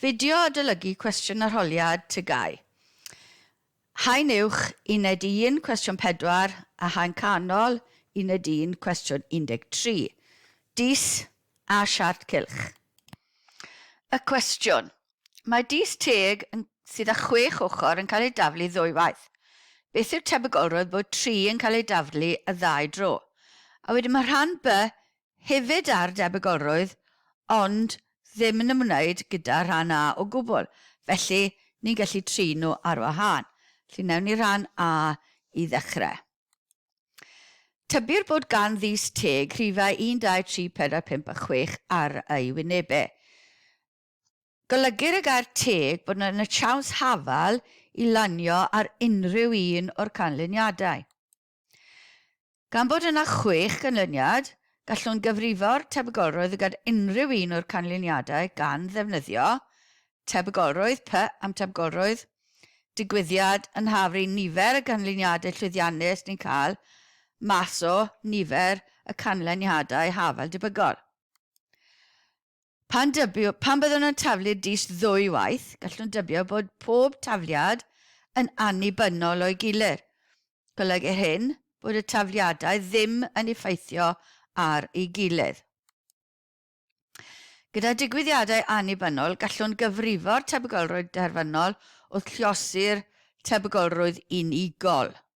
Fideo adolygu cwestiwn arholiad TGAU. Haen uwch, uned 1, cwestiwn 4, a haen canol, uned 1, cwestiwn 13. Dis a siart cylch. Y cwestiwn. Mae dis teg yn, sydd â chwech ochr yn cael ei daflu ddwywaith. Beth yw'r tebygolrwydd bod tri yn cael ei daflu y ddau dro? A wedyn mae rhan B hefyd ar debygolrwydd ond ddim yn ymwneud gyda rhan A o gwbl, felly ni'n gallu trin nhw ar wahân. Felly wnewn ni rhan A i ddechrau. Tybir bod gan Ddyst Teg rhifau 1, 2, 3, 4, 5 a 6 ar ei wynebau. Golygu'r y gair teg bod yn y siawns hafal i lanio ar unrhyw un o'r canlyniadau. Gan bod yna chwech ganlyniad, gallwn gyfrifo'r tebygolrwydd y gall unrhyw un o'r canlyniadau gan ddefnyddio tebygolrwydd P am tebygolrwydd digwyddiad yn haf ry'n nifer y canlyniadau llwyddiannus ni'n cael mas o nifer y canlyniadau haf fel debygol. Pan dybio, pan byddwn nhw'n taflu dis ddwy waith, gallwn dybio bod pob tafliad yn annibynnol o'i gilydd. Golygu'r hyn bod y tafliadau ddim yn effeithio ar ei gilydd. Gyda digwyddiadau annibynnol, gallwn gyfrifo'r tebygolrwydd derfynol wrth lluosi'r tebygolrwydd unigol.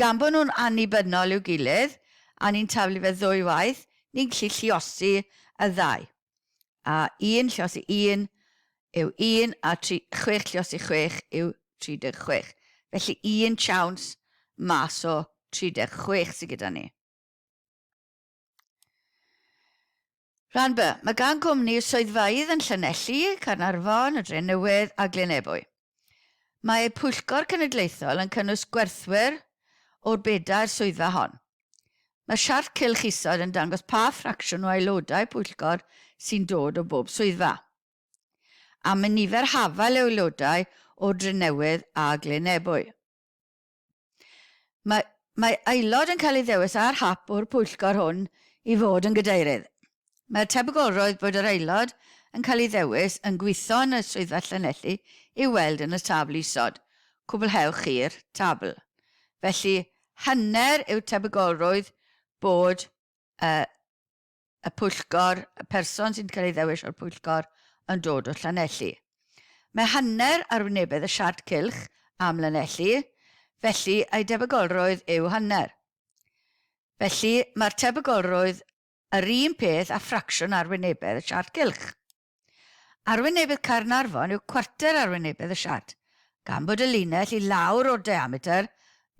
Gan bod nhw'n annibynnol i'w gilydd, a ni'n taflu fe ddwy waith, ni'n gallu lluosi y ddau. A un lluosi un yw un, a tri, chwech lluosi chwech yw 36. Felly un siawns mas o 36 sy gyda ni. Rhan B, mae gan gwmni swyddfeydd yn Llanelli, Caernarfon, y Drenewydd a Glyn Ebwy. Mae Pwyllgor Cenedlaethol yn cynnwys gwerthwyr o'r bedair swyddfa hon. Mae'r siart cylch isod yn dangos pa ffracsiwn o aelodau pwyllgor sy'n dod o bob swyddfa. Am y nifer hafal o aelodau o Drenewydd a Glyn Ebwy. Mae, mae aelod yn cael ei ddewis ar hap o'r pwyllgor hwn i fod yn gadeirydd. Mae'r tebygolrwydd bod yr aelod yn cael ei ddewis yn gweithio yn y Swyddfa Llanelli i'w weld yn y tabl isod, cwblhewch chi'r tabl. Felly, hanner yw tebygolrwydd bod y y pwyllgor, y person sy'n cael ei ddewis o'r pwyllgor yn dod o Llanelli. Mae hanner arwynebedd y siart cylch am Lanelli, felly ei debygolrwydd yw hanner. Felly, mae'r tebygolrwydd yr un peth â ffracsiwn arwynebedd y siart cylch. Arwynebedd Caernarfon yw cwarter arwynebedd y siart, gan bod y linell i lawr o'r diametr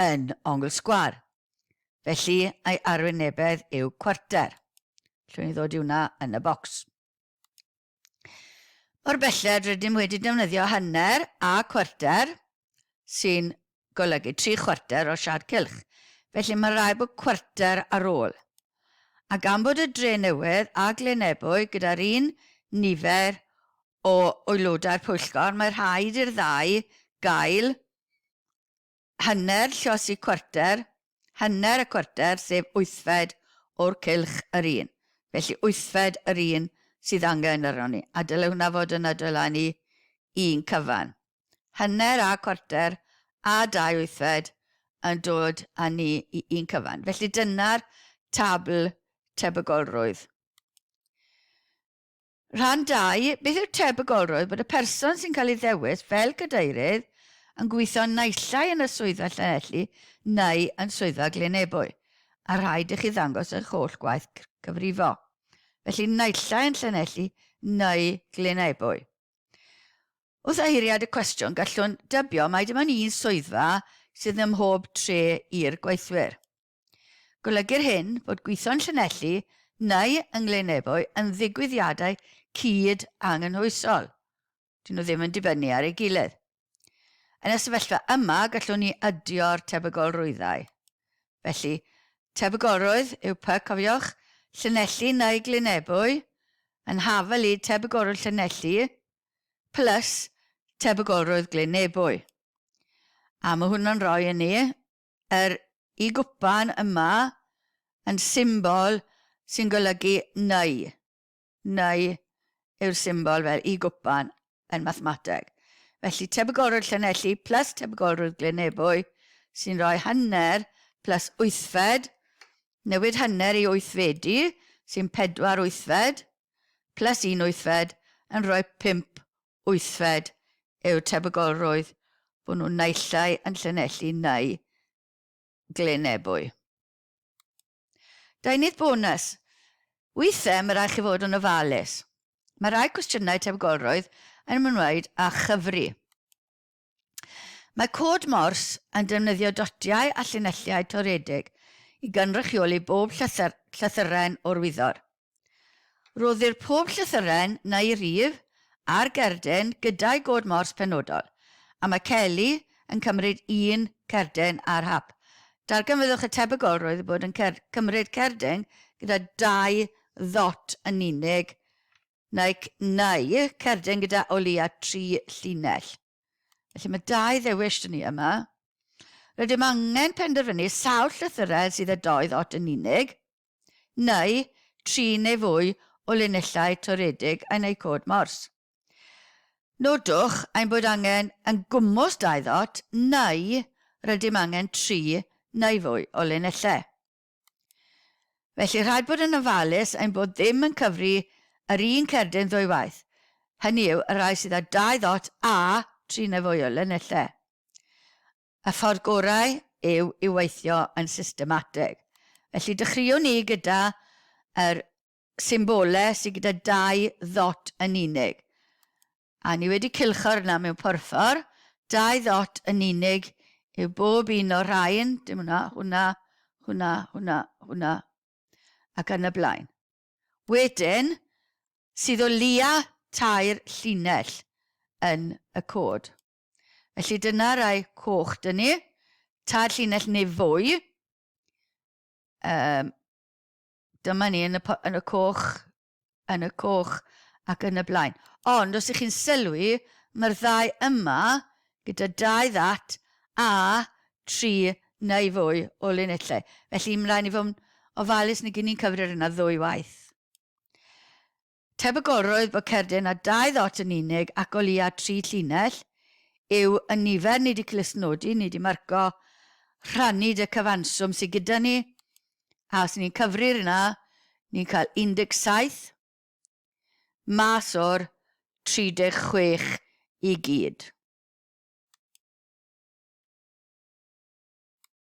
yn ongl sgwâr. Felly, ei arwynebedd yw cwarter. Llwn ni ddod i hwnna yn y bocs. Mor belled rydym wedi defnyddio hanner a cwarter, sy'n golygu tri chwarter o siâd cylch, felly mae'n rhaid bod cwarter ar ôl. A gan bod y Drenewydd a Glynebwy gyda'r un nifer o aelodau'r pwyllgor, mae rhaid i'r ddau gael hanner llosi cwarter, hanner y cwarter, sef wythfed o'r cylch yr un. Felly wythfed yr un sydd angen arnon ni, a dylai hwnna fod yn adolynu un cyfan. hanner a chwarter a dau wythfed yn dod â ni i un cyfan. Felly dyna'r tabl tebygolrwydd. Rhan 2, beth yw'r tebygolrwydd bod y person sy'n cael ei ddewis fel cadeirydd yn gweithio naillai yn y swyddfa Llanelli neu yn swyddfa Glynebwy, a rhaid i chi ddangos eich holl gwaith cyfrifo. Felly naillai yn Llanelli neu Glynebwy. Wrth eiriad y cwestiwn, gallwn dybio mai dim ond un swyddfa sydd ym mhob tre i'r gweithwyr. Golygu'r hyn bod gwitho yn Llanelli neu yng Nglynebwy yn ddigwyddiadau cyd anghynhwysol, dyn nhw ddim yn dibynnu ar ei gilydd. Yn y sefyllfa yma, gallwn ni ydio'r tebygolrwyddau. Felly, tebygolrwydd yw py, cofiwch, Llanelli neu Glynebwy, yn haf a lid tebygolrwydd Llanelli, plus tebygolrwydd Glyn Nebo. A mae hwnnw'n rhoi i ni yr Y gwpan yma yn symbol sy'n golygu neu. Neu yw'r symbol fel Y gwpan yn mathemateg. Felly tebygolrwydd Llanelli plus tebygolrwydd Glyn Nebo sy'n rhoi hanner plus wythfed, newid hanner i wythfedu sy'n pedwar wythfed, plus un wythfed yn rhoi pump wythfed yw'r tebygolrwydd bod nhw naillai yn Llanelli neu Glyn Ebwy. Deunydd bonus, Weithiau mae rhaid chi fod yn ofalus. Mae rhai cwestiynau tebygolrwydd yn ymwneud â chyfri. Mae Cod Morse yn defnyddio dotiau a llinelliau toredig i gynrychioli bob llythyr, llythyren o'r wyddor. Rhoddir pob llythyren neu rif ar gerdyn gyda'i god Morse penodol, a mae Kelly yn cymryd un cerdyn ar hap. Darganfyddwch y tebygolrwydd o bod yn cer cymryd cerdyn gyda dau ddot yn unig Neu, neu cerdyn gyda o leia tri llinell. Felly mae dau ddewis dyn ni yma. Rydym angen penderfynu sawl llythyredd sydd â dou ddot yn unig, neu tri neu fwy o linellau toredig yn eu cod mors. Nodwch ein bod angen yn gwmws dau ddot neu rydym angen tri neu fwy o linellau. Felly, rhaid bod yn ofalus ein bod ddim yn cyfri yr un cerdyn ddwy waith, hynny yw, y rhai sydd â dau ddot a tri neu fwy o linellau. Y ffordd gorau yw i weithio yn systematig. Felly, dechreuwn ni gyda yr symbolau sydd gyda dau ddot yn unig. A ni wedi cylcho'r yna mewn porffor, dau ddot yn unig yw bob un o'r rhain, dim hwnna, hwnna, hwnna, hwnna, hwnna, ac yn y blaen. Wedyn, sydd o lia tair llinell yn y cod. Felly dyna rai coch dyn ni, tair llinell neu fwy, um, Dyma ni yn y, yn y coch, yn y coch ac yn y blaen. Ond os ych chi'n sylwi, mae'r ddau yma gyda dau ddat a tri neu fwy o linellau. Felly, mae'n rhaid ni fod yn ofalus nag i ni'n cyfrif yna ddwy waith. Tebygolrwydd bod cerdyn â dau ddot yn unig ac o leia tri llinell yw y nifer ni 'di clustnodi, ni 'di marco, rhannu 'da cyfanswm sy gyda ni, a os ni'n cyfri ar hynna, ni'n cael 17 mas o'r 36 i gyd.